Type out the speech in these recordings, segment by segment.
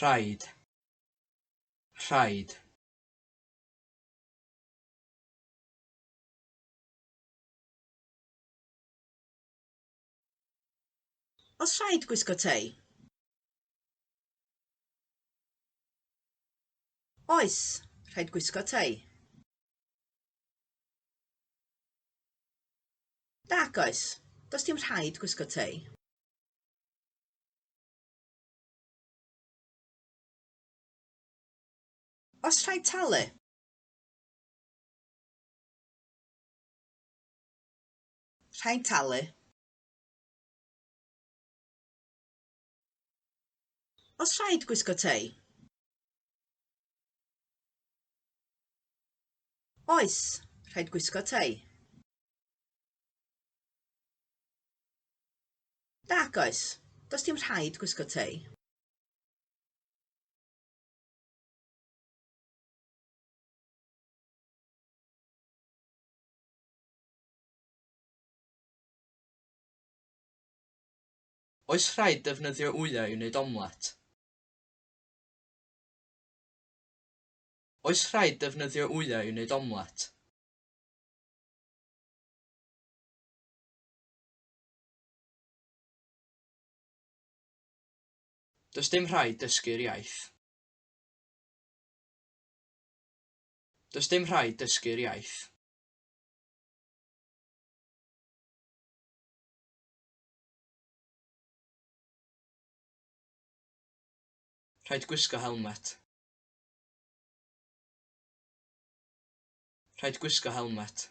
Rhaid. Rhaid. Oes rhaid gwisgo tei? Oes, rhaid gwisgo tei. Nag oes, does dim rhaid gwisgo tei. Os rhaid talu? Rhaid talu. Os rhaid gwisgo tei? Oes, rhaid gwisgo tei. Nac oes, does dim rhaid gwisgo tei. Oes rhaid defnyddio wyau i wneud omlet? Oes rhaid defnyddio wyau i wneud omlet? Does dim rhaid dysgu'r iaith. Does dim rhaid dysgu'r iaith. Rhaid gwisgo helmet. Rhaid gwisgo helmet.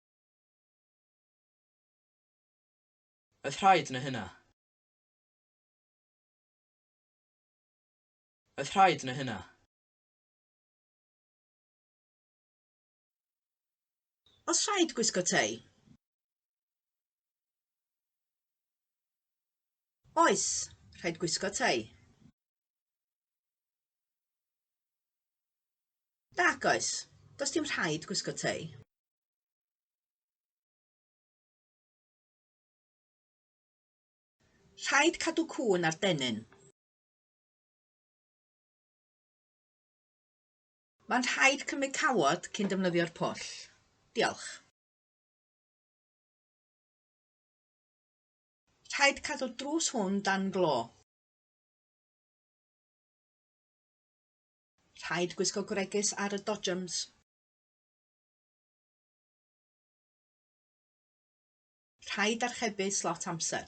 Oedd rhaid neu hynna? Oedd rhaid neu hynna? Oes rhaid gwisgo tei? Oes, rhaid gwisgo tei. Nag oes, does dim rhaid gwisgo tei. Rhaid cadw cŵn ar dennyn. Mae'n rhaid cymryd cawod cyn defnyddio'r pwll. Diolch. Rhaid cadw'r drws hwn dan glo. Rhaid gwisgo gwregys ar y dodgems. Rhaid archebu slot amser.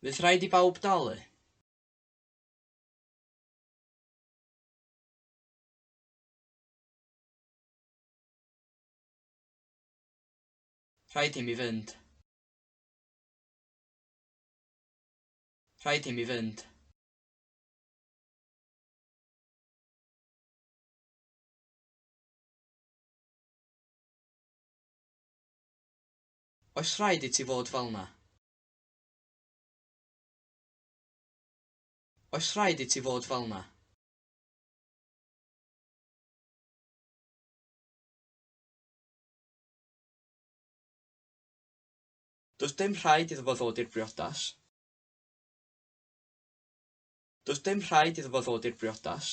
Fydd rhaid i bawb dalu. Rhaid i mi fynd. Rhaid i mi fynd. Oes rhaid i ti fod fel 'na? Oes rhaid i ti fod fel 'na? Does dim rhaid iddo fo ddod i'r briodas. Does dim rhaid iddo fo ddod i'r briodas.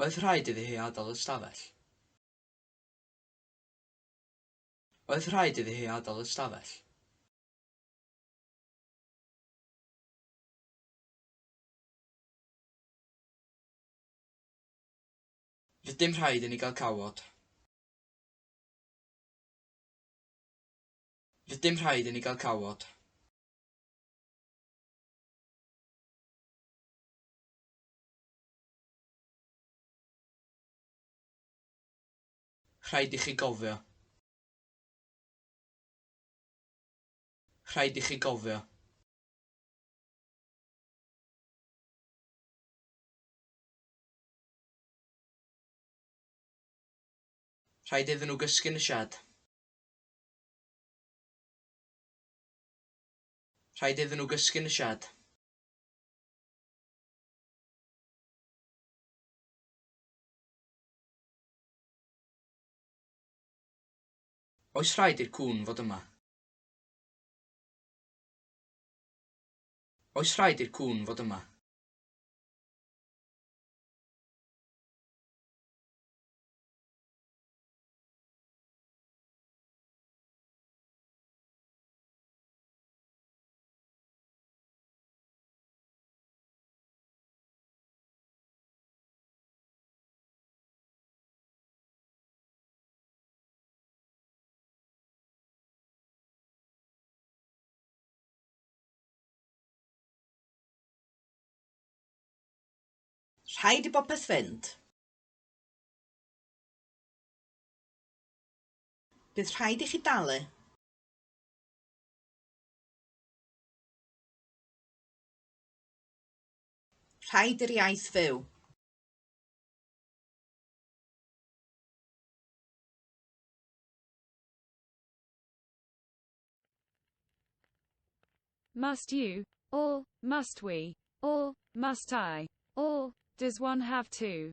Oedd rhaid iddi hi adael y stafell? Oedd rhaid iddi hi adael y stafell? Rydym rhaid i ni gael cawod. Rydym rhaid i ni gael cawod. Rhaid i chi gofio. Rhaid i chi gofio. Rhaid iddyn nhw gysgu yn y sied. Rhaid iddyn nhw gysgu yn y siâd. Oes rhaid i'r cŵn fod yma? Oes rhaid i'r cŵn fod yma? Rhaid i bopeth fynd. Bydd rhaid i chi dalu. Rhaid i'r iaith fyw. Must you? Or, must we? Or, must I? Or, does one have to?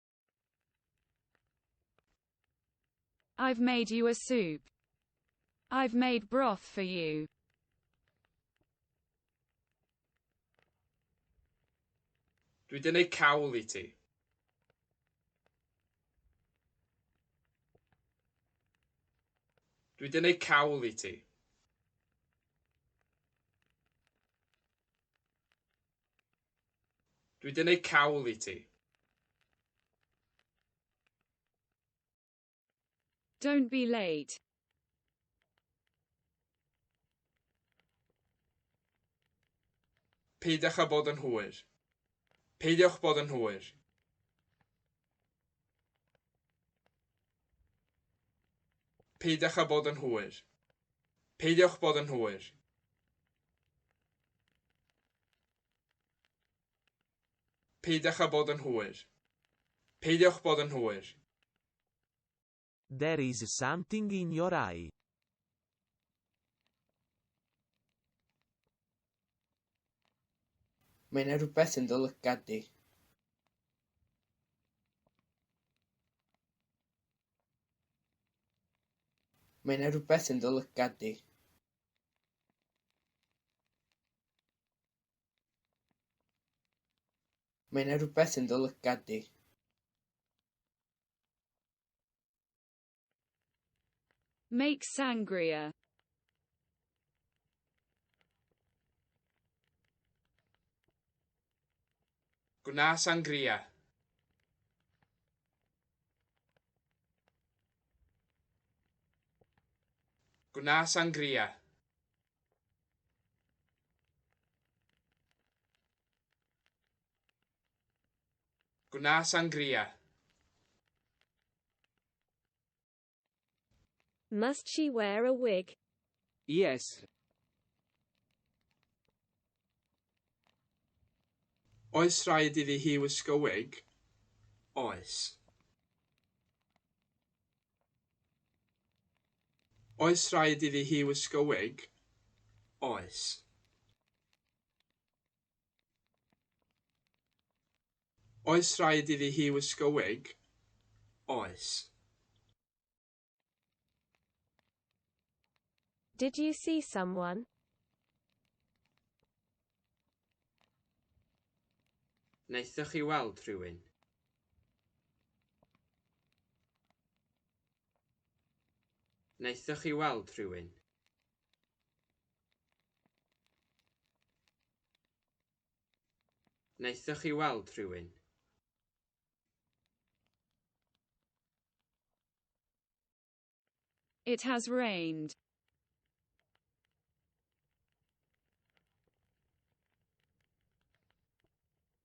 I've made you a soup. I've made broth for you. Dwi wedi gwneud cawl i ti. Dwi wedi gwneud cawl i ti. Dwi 'di neud cawl i ti. Don't be late. Peidiwch â bod yn hwyr. Peidiwch bod yn hwyr. Peidiwch â bod yn hwyr. Peidiwch bod yn hwyr. Peidiwch â bod yn hwyr. Peidiwch bod yn hwyr. There is something in your eye. Mae yna rhywbeth yn dy lygad di. Mae yna rhywbeth yn dy lygad di. Mae yna rhywbeth yn dy lygad di. Make sangria. Gwna sangria. Gwna sangria. Gwna sangria. Must she wear a wig? Yes. Oes rhaid iddi hi wisgo wig? Oes. Oes rhaid iddi hi wisgo wig? Oes. Oes rhaid iddi hi wisgo wig? Oes. Did you see someone? Wnaethoch chi weld rhywun? Wnaethoch chi weld rhywun? Wnaethoch chi weld rhywun? It has rained.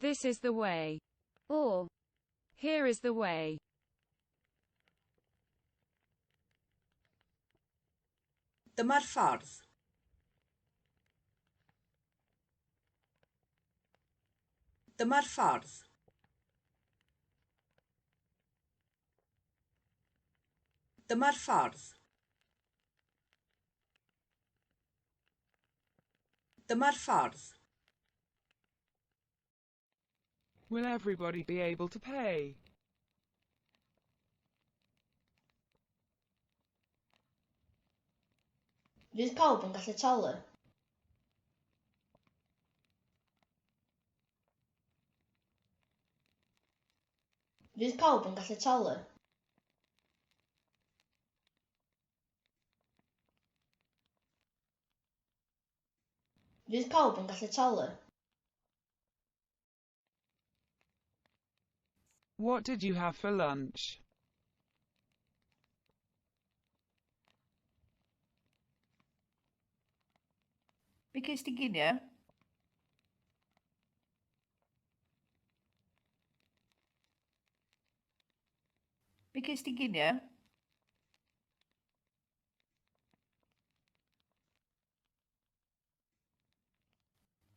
This is the way. Or, here is the way. Dyma'r ffordd. Dyma'r ffordd. Dyma'r ffordd. Dyma'r ffordd. Will everybody be able to pay? Fydd pawb yn gallu talu? Fydd pawb yn gallu talu? Fydd pawb yn gallu talu? What did you have for lunch? Be ges di ginio? Be ges di ginio?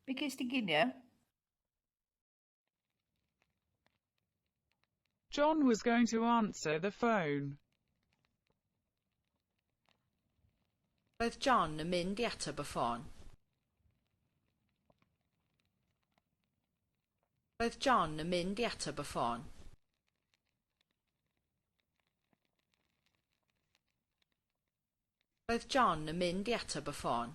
Be ges di ginio? John was going to answer the phone. Roedd John yn mynd i ateb y ffôn. Roedd John yn mynd i ateb y ffôn. Roedd John yn mynd i ateb y ffôn.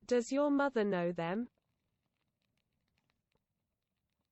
Does your mother know them?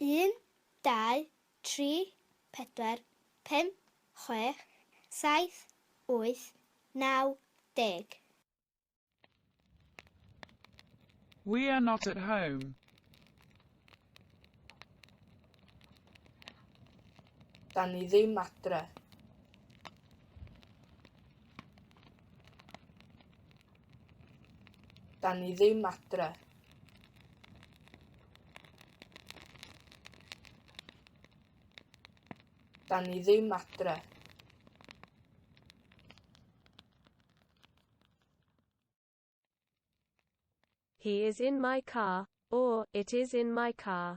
Un, dau, tri, pedwar, pump, chwech, saith, wyth, naw, deg. We are not at home. Dan ni ddim adre. Da ni ddim adre. Da ni ddim adre. He is in my car, or it is in my car.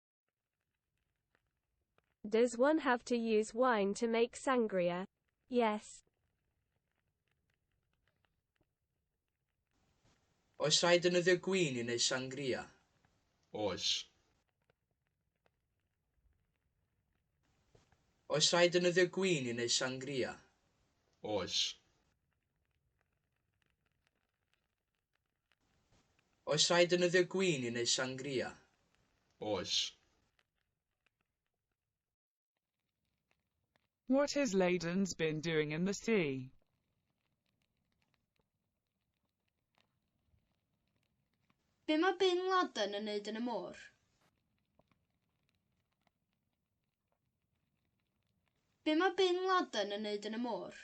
Does one have to use wine to make sangria? Yes. Oes rhaid defnyddio gwin i wneud sangria? Oes. Oes rhaid defnyddio gwin i wneud sangria? Oes. Oes rhaid defnyddio gwin i wneud sangria? Oes. What has Leyden's been doing in the sea? Be mae Bin Laden yn wneud yn y môr? Be mae Bin Laden yn wneud yn y môr?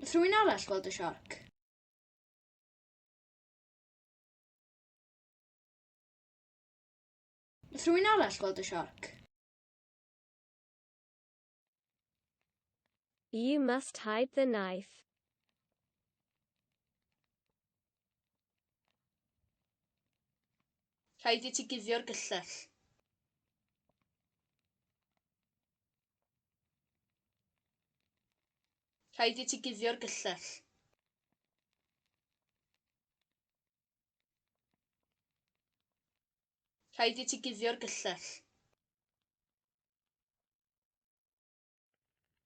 Nath rhywun arall gweld y siarc? Nath rhywun arall gweld y siarc? You must hide the knife. Rhaid i ti guddio'r gyllell. Rhaid i ti guddio'r gyllell. Rhaid i ti guddio'r gyllell.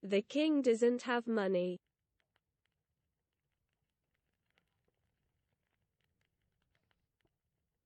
The king doesn't have money.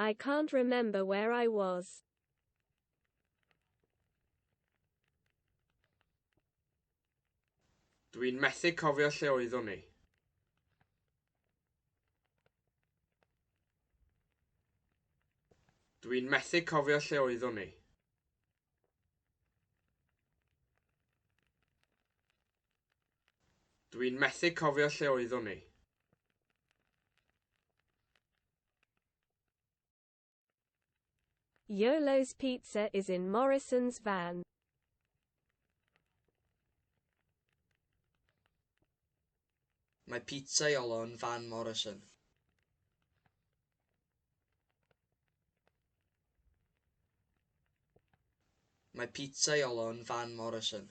I can't remember where I was. Dwi'n methu cofio lle oeddwn ni. Dwi'n methu cofio lle oeddwn ni. Dw i'n methu cofio lle oeddwn i. Yolo's Pizza is in Morrison's van. Mae pizza Iolo yn fan Morrison. Mae pizza Iolo yn fan Morrison.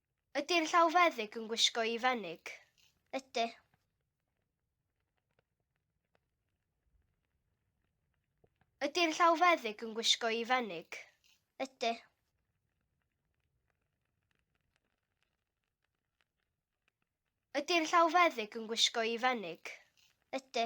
Ydy'r llawfeddyg yn gwisgo i fenig? Ydy. Ydy'r llawfeddyg yn gwisgo i fenig? Ydy. Ydy'r llawfeddyg yn gwisgo i fenig? Ydy.